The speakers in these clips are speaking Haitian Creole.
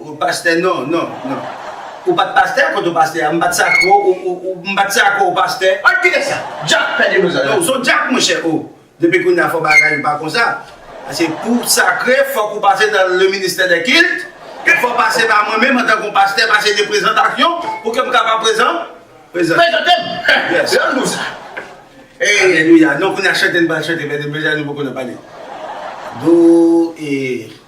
Ou pastè non non non. Ou pat pastè kote ou pastè a m pat sakre w ou m pat sakre w pastè. An kite sa! Dyak pè de loza. Ou son dyak monchè oo. Depi kounye a fò bagay yo pa konsa. Paske pou w sakre fòk ou pase nan le ministè dè kilt. E fò pase pa mwen menm antanke yon pastè paske gen prezantasyon pou ke m kapab prezan prezan. Prezante m. Yes. Lè m di w sa. Ee. Alelouya. Non kounye a chante n pral chante pè de loza nou poko nan pale. Do ee.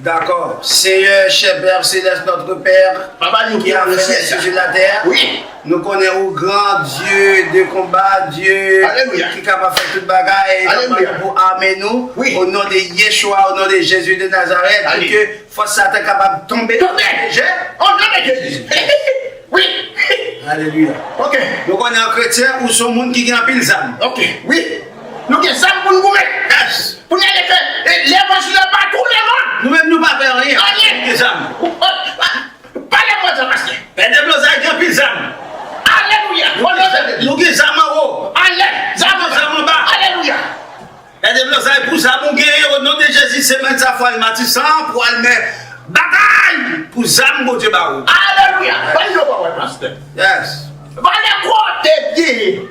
Dakò. Seyè, chè Pè Selès, Nòtre Pè ki antre nan syèl sou latè, nou konnen ou gran, Dye de konba, Dye ki kapab fè tout bagay, e nou mande pou ame nou, o non de Yechwa, o non de Jezi de Nazarèt, pou ke fòs Satan kapab tonbe nan tè dejè, o non de Jezi. Alelouya. Nou konnen an kretyen, ou son moun ki gen anpil zam. Nou gen zam pou n goumen. Yes. Pou n ale fè lè vwa sou lè pa tou le mond. Nou menm nou pa fè anyen. Anyen. Gen zam. Pa lè vwa zam pastè. Pè Deblozay gen anpil zam. Alelouya. O non de Jezi. Nou gen zam anwo. Anlè. Zam anba. Zam anba. Alelouya. Pè Deblozay pou zam ou genyen o non de Jezi semèn sa fwa l matisan pou al men batay pou zam Bondye ba ou. Alelouya. Bay yo pawòl pastè. Yes. Valè kò tèt genyen.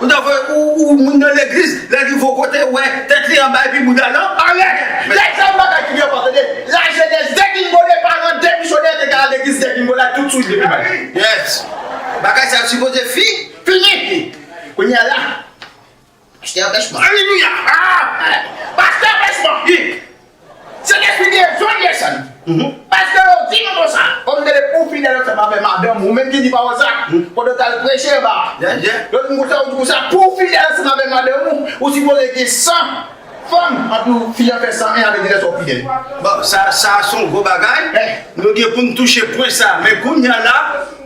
Ou ta voye ou ou moun nan legliz lè li vo kote wè tèt li anba epi bouda l an alè. Lè sa yon bagay ki byen fò tande la jenès degringole paran de misyonè te ka al legliz degringole a tout swit depi maten. Yes bagay sa sipoze fi fini. Kounya la. Pastè a bèch man aleluya amen pastè a bèch man ui se lespri dezod ye sèm pastè yo di nou konsa kòm dele ou fidèl ansanm avè madanm ou menm ki di pawòl sa pandan ou tal preche anba lòt moun konsa ou di konsa pouw fidèl ansanm avè madanm ou ou sipoze gen 100 fanm anpi ou fiyan fè 101 avèk lè sòw fidèl bon sa sa son gwo bagay nou gen poun touche pwen sa men kounya la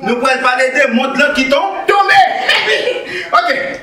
nou pwal pale de mond lan ki ton tonbe ok.